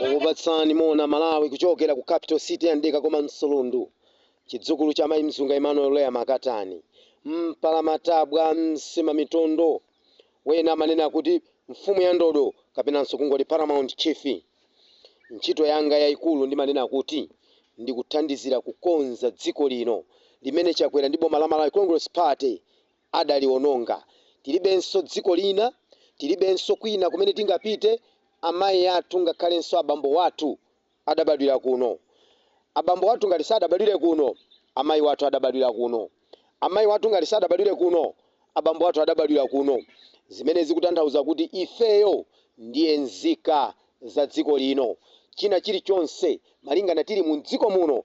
ukupatsani mona malawi kuchokera ku capital city ya mdeka koma msulundu chidzukulu cha mayi mzunga emmanuel lea makatani mpalamatabwa msima mitondo wena amanena kuti mfumu ya ndodo kapenanso kungoti paramount chief ntchito yanga yayikulu ndimanena kuti ndikuthandizira kukonza dziko lino limene chakwera ndi boma la malawi congress party Adaliwononga. Tilibenso dziko lina, tilibenso kwina kumene tingapite. Amayi athu ngakhalenso abambo wathu adabadwira kuno. Abambo wathu ngati sadabadwire kuno, amayi wathu adabadwira kuno. Amayi wathu ngati sadabadwire kuno, abambo wathu adabadwira kuno. Zimene zikutanthauza kuti ifeyo ndiye nzika za dziko lino. China chilichonse, malingana tili mumdziko muno,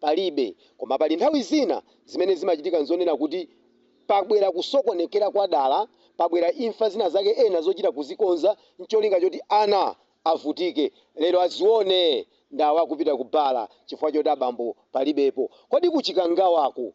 palibe. Koma pali nthawi zina zimene zimachitika nzonena kuti pabwera kusokonekera kwa dala, pabwera imfa zina zake ena zochita kuzikonza ncholinga choti ana avutike lero azione ndawo akupita ku bar chifukwa choti abambo palibepo. Kodi ku Chikangawaku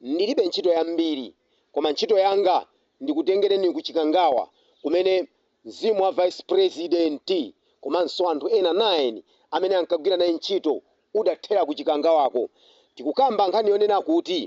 Ndilibe ntchito yambiri koma ntchito yanga ndikutengereni ku Chikangawa kumene mzimu wa Vice Prezidenti komanso anthu ena 9 amene ankagwira naye ntchito udathera ku Chikangawako. Tikukamba nkhani yonena kuti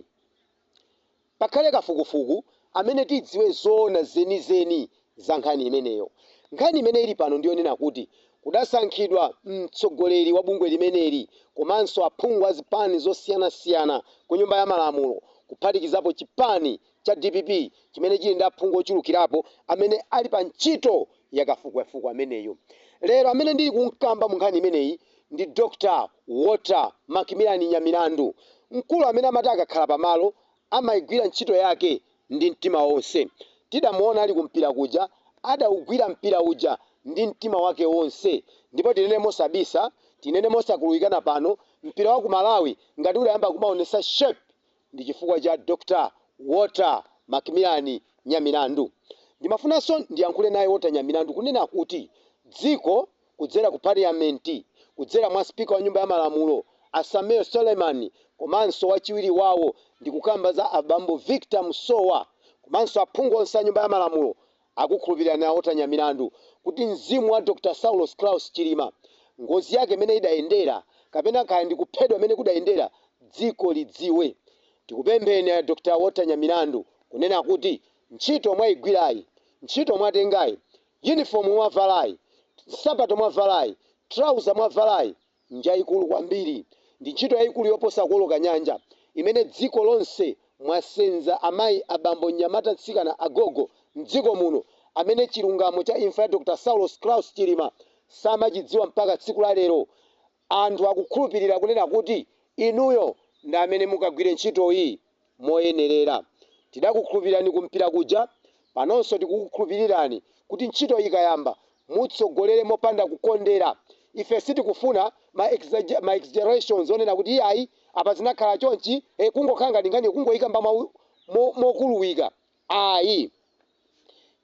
pakhale kafukufuku amene tidziwe zoona zenizeni za nkhani imeneyo. Nkhani imene ili pano ndi yonena kuti kudasankhidwa mtsogoleri wa bungwe limeneli komanso aphungu a zipani zosiyanasiyana ku Nyumba ya Malamulo kuphatikizapo chipani cha dpp chimene chili ndi aphungu ochulukirapo amene ali pa ntchito ya kafukufuku ameneyu. Lero amene ndili kumkamba mu nkhani imeneyi ndi Dr. Walter Macmillan Nyamilandu, mkulu amene amati akakhala pamalo amaigwira ntchito yake ndi mtima wonse. Tidamuona ali kumpira kuja, adaugwira mpira uja ndi mtima wake wonse ndipo tinene mosabisa, tinene mosakuluwikana pano, mpira wa ku Malawi ngati udayamba kumaonetsa shape ndi chifukwa cha Dr Walter Macmillan Nyamilandu. Ndimafunanso ndiyankhule naye Walter Nyamilandu kunena kuti dziko kudzera ku Paliyamenti kudzera mwa Speaker wa nyumba ya malamulo a Sameer Suleiman komanso wachiwiri wawo ndikukamba za a bambo Victor Musowa komanso aphungu onse a nyumba ya malamulo akukhulupirirani a Walter Nyamilandu kuti mzimu wa Dr Saulos Klaus Chilima ngozi yake imene idayendera kapena kaya ndi kuphedwa mene kudayendera dziko lidziwe. Tikupempheni a Dr Walter Nyamilandu kunena kuti ntchito mwaigwirayi, ntchito mwatengayi Yunifomu mwavalayi, nsapato mwavalayi, trauza mwavalayi, njaikulu kwambiri. Ndi ntchito yaikulu yoposa kuoloka nyanja, imene dziko lonse mwasenza amayi, abambo, mnyamata, mtsikana, agogo, m'dziko muno, amene chilungamo cha imfa ya Dr. Saulos Klaus Chilima samachidziwa mpaka tsiku la lero. Anthu akukhulupirira kunena kuti inuyo ndi amene mukagwire ntchitoyi moyenerera. Tidakukhulupirirani kumpira kuja, panonso tikukukhulupirirani kuti ntchitoyi ikayamba, mutsogolere mopanda kukondera. Ife sitikufuna ma exaggerations onena kuti iyayi apa zinakhala chonchi, eh kungokhala ngati nkhaniyo kungoyikamba mokuluwika, ayi.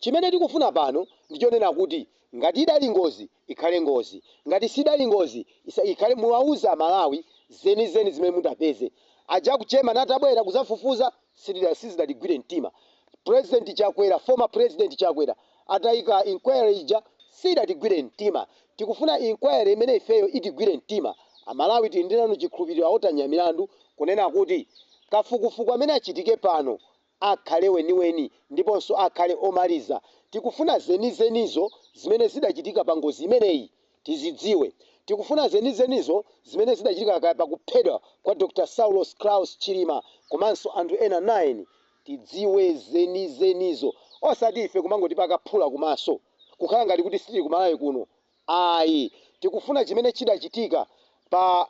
Chimene tikufuna pano ndi chonena kuti ngati idali ngozi ikhale ngozi, ngati sidali ngozi isakhale, muwauze Amalawi zenizeni zimene mutapeze. Aja aku German atabwera kuzafufuza sizidatigwire mtima, President Chakwera, Former President Chakwera atayika inquiry ija siyidatigwire mtima. Tikufuna inquiry imene ifeyo itigwire mtima. Amalawi tili nanu chikhulupiriro a Walter Nyamilandu kunena kuti kafukufuku amene achitike pano akhale weniweni ndiponso akhale omaliza. Tikufuna zenizenizo zimene zidachitika pa ngozi imeneyi tizidziwe. Tikufuna zenizenizo zimene zidachitika kaya pa kuphedwa kwa Dr Saulos Klaus Chilima komanso anthu ena 9. Tidziwe zenizenizo. Osati ife kumangotipaka phula kumaso. Kukhala ngati kuti sitili ku Malawi kuno. Ayi. Tikufuna chimene chidachitika pa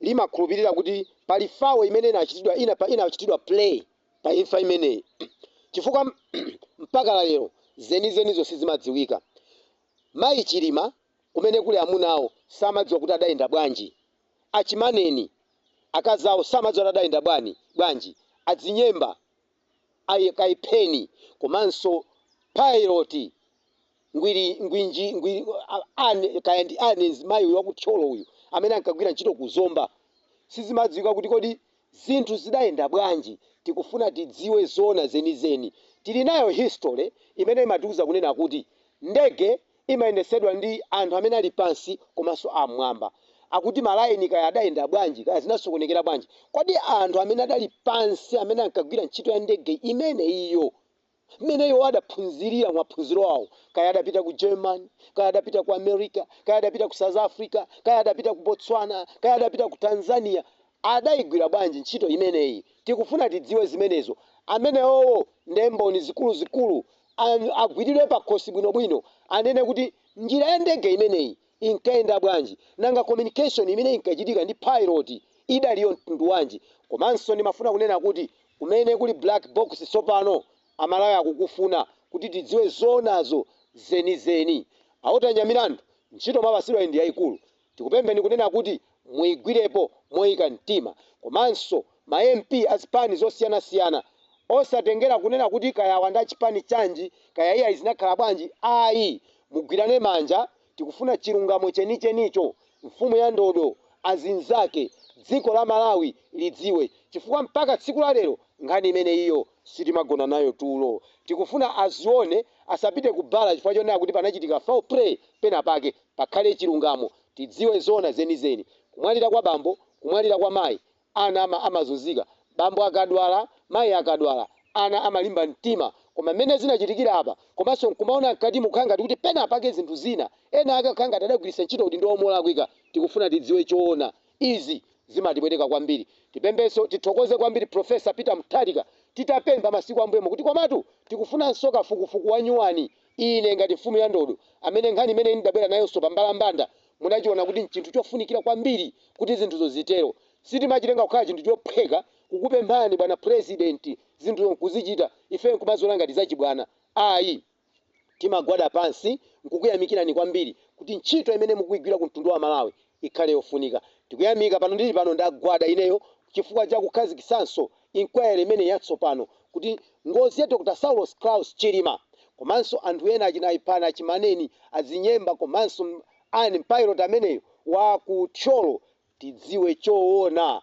limakhulupirira kuti pali fawo imene inachitidwa ina pa inachitidwa play pa imfa imeneyi chifukwa mpaka la lero zenizenizo sizimadziwika. Mayi Chilima kumene kuli amuna awo samadziwa kuti adayenda bwanji, a Chimaneni akazi awo samadziwa kuti adayenda bwani bwanji, a Dzinyemba a Kayipheni komanso Pilot Ngwiri Ngwinji Ngwiri ani kaya ndi ani mayi uyu waku Thyolo uyu amene ankagwira ntchito ku Zomba sizimadziwika kuti kodi zinthu zidayenda bwanji tikufuna tidziwe zoona zenizeni tili nayo history imene imatiuza kunena kuti ndege imayendetsedwa ndi anthu amene ali pansi komanso am'mwamba. Akuti malayini kaya adayenda bwanji, kaya zinasokonekera bwanji, kodi anthu amene adali pansi amene ankagwira ntchito ya ndege imeneyiyo, mmene iwo adaphunzirira maphunziro awo, kaya adapita ku Germany, kaya adapita ku America, kaya adapita ku South Africa, kaya adapita ku Botswana, kaya adapita ku Tanzania, adaigwira bwanji ntchito imeneyi? Tikufuna tidziwe zimenezo. Amenewowo nde mboni zikuluzikulu. agwiridwe pakhosi bwinobwino, anene kuti njira ya ndege imeneyi inkayenda bwanji, nanga communication imene inkachitika ndi pilot idali ya mtundu wanji? Komanso ndimafuna kunena kuti kumene kuli black box tsopano, Amalawi akukufuna kuti tidziwe zoonazo zenizeni. A Walter Nyamilandu, ntchito mwapasidwayi ndi yaikulu. Tikupempheni kunena kuti muigwirepo moika mtima komanso ma MP azipani zosiyana siyana osatengera kunena kuti kaya awa ndi achipani chanji kaya iyayi zinakhala bwanji ayi mugwirane manja tikufuna chilungamo chenichenicho mfumu ya ndodo azinzake dziko la Malawi lidziwe chifukwa mpaka tsiku la lero nkhani imeneyiyo sitimagona nayo tulo tikufuna azione asapite kubala chifukwa chonena kuti panachitika foul play penapake. pakhale chilungamo, tidziwe zoona zenizeni. Kumwalira kwa bambo, kumwalira kwa mayi, ana amazunzika. Bambo akadwala, mayi akadwala, ana amalimba mtima. Koma mmene zinachitikira apa, komanso nkumaona mkatimu kukhala ngati kuti penapake zinthu zina, ena ake kukhala ngati adagwiritsa ntchito udindo wawo molakwika. Tikufuna tidziwe choona. Izi zimatipweteka kwambiri. Tipemphenso, tithokoze kwambiri Prof. Peter Mutharika titapempha masiku ambuyomo kuti komatu tikufunanso kafukufuku wanyuwani. Ine, ngati mfumu ya ndodo, amene nkhani imene ndabwera nayonso pambalambanda, munachiwona kuti n'chinthu chofunikira kwambiri kuti zinthuzo zitero. Sitimachitenga kukhala chinthu chophweka kukupemphani, Bwana Purezidenti, zinthuzo n'kuzichita, ife n'kumaziwona ngati zachibwana. Ayi. Timagwada pansi n'kukuyamikirani kwambiri kuti ntchito imene mukuigwira ku mtundu wa Amalawi ikhale yofunika. Tikuyamika pano ndili pano ndagwada ineyo chifukwa cha kukhazikitsanso inquiry imeneyi yatsopano kuti ngozi ya Dr Saulos Klaus Chilima komanso anthu ena achina Aipan, Achimaneni, Azinyemba komanso a pilot ameneyo wa ku Thyolo tidziwe choona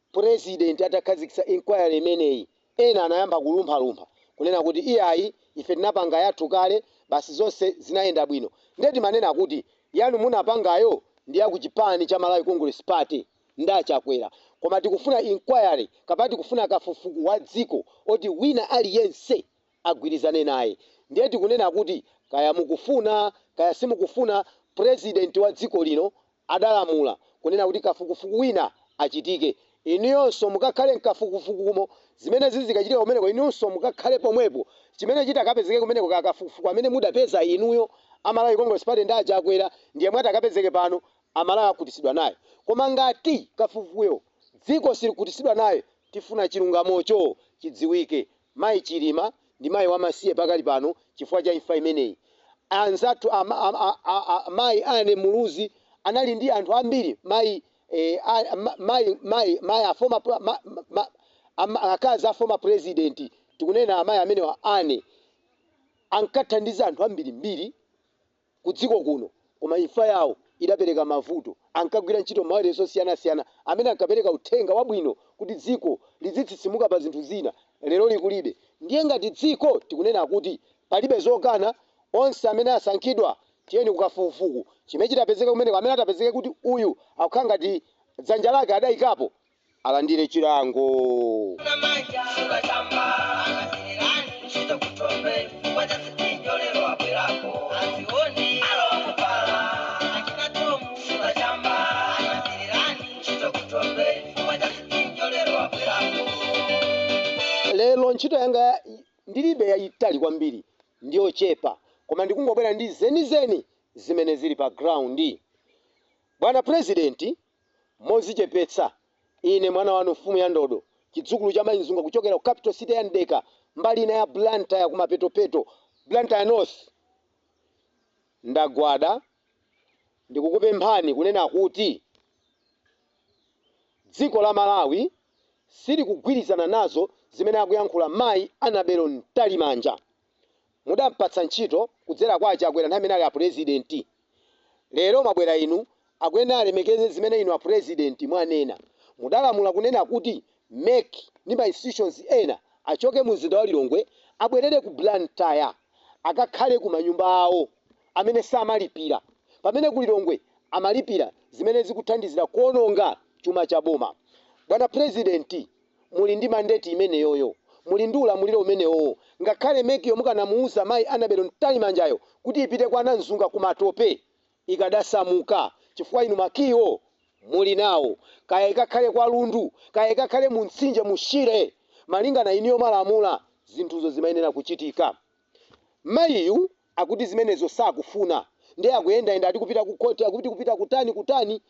Purezidenti atakhazikitsa inquiry imeneyi, ena anayamba kulumphalumpha kunena kuti iyayi ife tinapanga yathu kale basi zonse zinayenda bwino nde timanena kuti yanu munapangayo ndi ya kuchipani cha Malawi Congress Party nda a Chakwera koma tikufuna inquiry kapena tikufuna kafufuku wa dziko oti wina aliyense agwirizane naye. Ndiye tikunena kuti kaya mukufuna kaya simukufuna President wa dziko lino adalamula kunena kuti kafukufuku wina achitike. Inuyonso mukakhale mkafukufukumo. Zimene zizikachitika kumeneko inunso mukakhale pomwepo. Chimene chitakapezeke kumeneko kaya kafukufuku amene mudapeza inuyo a Malawi Congress Party ndi a Chakwera ndi yemwe atakapezeke pano a Malawi akhutitsidwa naye. Koma ngati kafukufukuyo dziko silikhutitsidwa naye tifuna chilungamocho chidziwike. Mayi Chilima ndi mayi wamasiye pakali pano chifukwa cha imfa imeneyi. Anzathu a, a, a, a, a mayi Anne Muluzi anali ndi anthu ambiri mayi eh, a, ma, mayi mayi mayi a former pre- ma, ma, ma, ama- akazi a former president tikunena amayi amenewa Anne ankathandiza anthu ambirimbiri kudziko kuno koma imfa yawo idapereka mavuto. Ankagwira ntchito m'mawailesi osiyanasiyana amene ankapereka uthenga wabwino kuti dziko lidzitsitsimuka pa zinthu zina. Leroli kulibe. Ndiye ngati dziko tikunena kuti palibe zokana onse amene asankhidwa tiyeni kukafukufuku chimene chitapezeka kumeneko amene atapezeke kuti uyu akukhala ngati dzanja lake adaikapo alandire chilango. Lero ntchito yanga ndilibe yayitali kwambiri ndiyochepa koma ndikungobwera ndi zenizeni zimene zili pa ground. Bwana President Modzichepetsa, Ine, mwana wanu, mfumu ya ndodo, chidzukulu cha Mayi Mzunga kuchokera ku capital city ya Mdeka, mbali ina ya Blantyre kumapetopeto, Blantyre North, ndagwada ndikukupemphani kunena kuti dziko la Malawi silikugwirizana nazo zimene akuyankhula Mayi Annabel Mtalimanja. mudampatsa ntchito kudzera kwa a Chakwera nthawi imene ali apresident lero mwabwera inu akuyenera alemekeze zimene inu apresident mwanena. Mudalamula kunena kuti MEC ndi ma institutions ena achoke mu mzinda wa Lilongwe abwerere ku Blantyre akakhale ku manyumba awo amene samalipira pamene ku Lilongwe amalipira zimene zikuthandizira kuononga chuma cha boma. Bwana president muli ndi mandate imeneyoyo, muli ndi ulamuliro umenewowo, ngakhale MEC yo mukanamuuza mayi Annabel Mtalimanjayo kuti ipite kwa Namzunga ku Matope ikadasamuka chifukwa inu ma key wo muli nawo, kaya ikakhale kwa Lundu, kaya ikakhale mu mtsinje mu Shire, malingana inuyo mwalamula, zinthuzo zimayenera kuchitika. Mayiyu akuti zimenezo sakufuna nde akuyendayenda ati kupita ku court akuti kupita kutani kutani,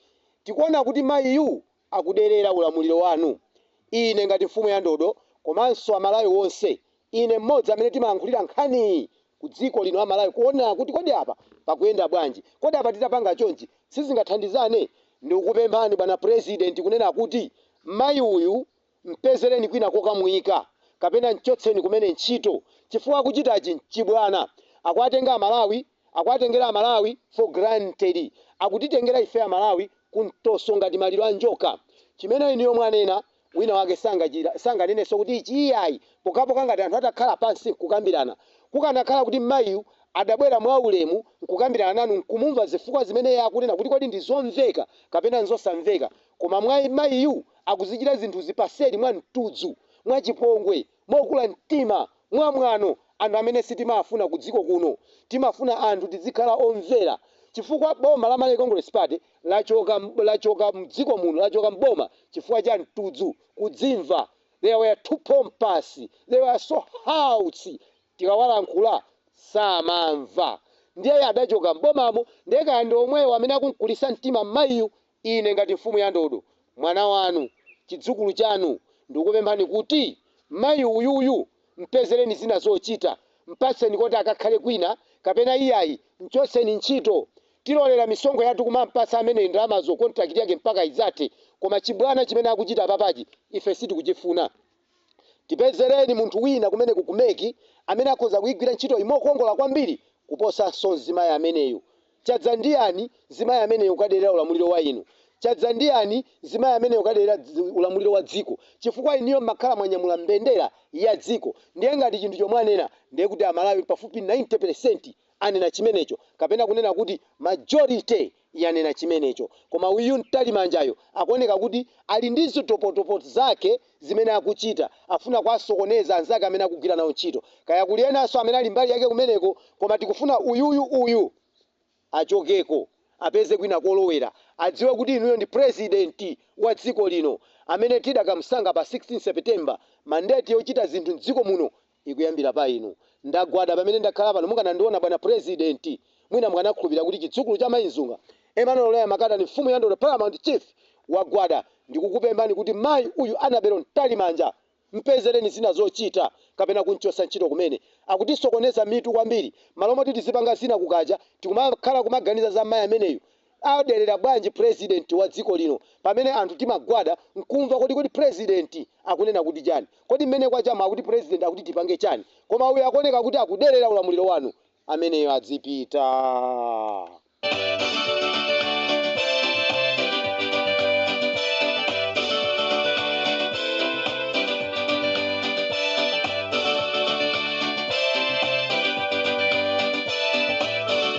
tikuona kuti mayiyu akuderera ulamuliro wanu. Ine ngati mfumu ya ndodo komanso amalawi onse ine mmodzi amene timayankhulira nkhani ku dziko lino a Malawi kuona kuti kodi apa pakuyenda bwanji kodi apa titapanga chonchi sizingathandizane? Ndikukupemphani bwana president kunena kuti mayi uyu M'pezereni kwina kokamuyika kapena m'chotseni kumene ntchito chifukwa akuchitachi n'chibwana. Akuwatenga Amalawi, akuwatengera Amalawi for granted. Akutitengera ife Amalawi ku mtoso ngati maliro a njoka. Chimene inuyo mwanena, wina wake sanganenenso kuti ichi iyayi pokhapokha ngati anthu atakhala pansi n'kukambirana. Kukanakhala kuti mmayiyu adabwera mwaulemu n'kukambirana nanu n'kumumva zifukwa zimene iye akunena kuti kodi ndi zomveka kapena n'zosamveka, Koma mayiyu akuzichita zinthuzi paseli mwa mtudzu, mwa chipongwe, mokula mtima, mwa mwano, anthu amene sitimafuna ku dziko kuno. Timafuna anthu tidzikhala omvera chifukwa boma la Malawi Congress Party lachoka mdziko muno lachoka m'boma chifukwa cha mtudzu, kudzimva, they were too pompous, they were so haughty, tikawalankhula samamva ndiye adachoka m'bomamo ndiye kaya ndi omwewo amene akumkulisa mtima mmayiyu Ine, ngati mfumu ya ndodo, mwana wanu, chidzukulu chanu, ndikupemphani kuti mayi uyuyu mpezereni zina zochita, mpatseni koti akakhale kwina, kapena iyayi, mchotseni ntchito. Tilolera misonkho yathu kumampatsa ameneyi ndalamazo contract yake mpaka idzathe, koma chibwana chimene akuchita papachi ife sitikuchifuna. Tipezereni munthu wina kumeneko ku MEC amene akhoza kuigwira ntchitoyi mokongola kwambiri kuposanso mzimayi ameneyo. Chadza ndi yani mzimayi ameneyo kukaderera ulamuliro wa inu? Chadza ndi yani mzimayi ameneyo kukaderera ulamuliro wa dziko? Chifukwa inuyo mmakhala mwanyamula mbendera ya dziko ndiye ngati chinthucho mwanena ndiye kuti a Malawi pafupi 90% anena chimenecho kapena kunena kuti majority yanena chimenecho. Koma uyu Mtalimanjayo akuoneka kuti ali ndi zitopotopo zake zimene akuchita. Akufuna kuwasokoneza anzake amene akugwira nawo ntchito. Kaya kuli enanso amene ali mbali yake kumeneko, koma tikufuna uyuyu uyu achokeko, apeze kwina kolowera. Adziwe kuti inuyo ndi pulezidenti wa dziko lino amene tidakamsankha pa 16 September. Mandate yochita zinthu m'dziko muno ikuyambira pa inu. Ndagwada pamene ndakhala pano. Mukanandiona, bwana Purezidenti, mwina mukanakhulupirira kuti chidzukulu cha Mayi Mzunga, Emmanuel Loya Makatani, mfumu ya ndodo, Paramount Chief, wagwada ndikukupemphani kuti mayi uyu, Annabel Mtalimanja, mpezereni zina zochita kapena kumchotsa ntchito kumene. Akutisokoneza mitu kwambiri. M'malo moti tizipanga zina kukacha, tikumakhala kumaganiza za mayi ameneyu. aderera bwanji president wa dziko lino pamene anthu timagwada nkumva kodi kodi president akunena kuti chani kodi mmene kwachamu akuti president akuti tipange chani koma uyu akuoneka kuti akuderera ulamuliro wanu ameneyo adzipita.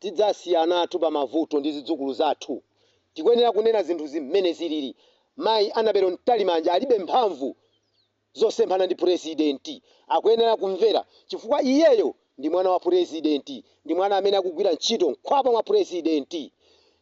Tidzasiya ana athu pa mavuto ndi zidzukulu zathu. Tikuyenera kunena zinthu zimene zilili. Mayi Annabel Mtalimanja alibe mphamvu zosemphana ndi Purezidenti. Akuyenera kumvera chifukwa iyeyo ndi mwana wa Purezidenti. Ndi mwana amene akugwira ntchito mkhwapa mwa Purezidenti.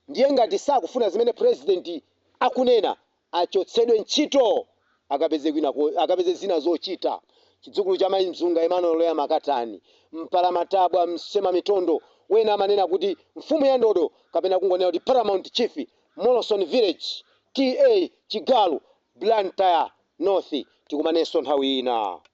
Ndiye ngati sakufuna zimene Purezidenti akunena achotsedwe ntchito akapeze zina zochita. Chidzukulu cha Mayi Mzunga, Emmanuel Loya Makatani, Mpalamatabwa, Msemamitondo, wena amanena kuti mfumu ya ndodo kapena kungonena kuti Paramount Chief, Moloson Village, TA Chigalu, Blantyre North. Tikumanenso nthawi ina.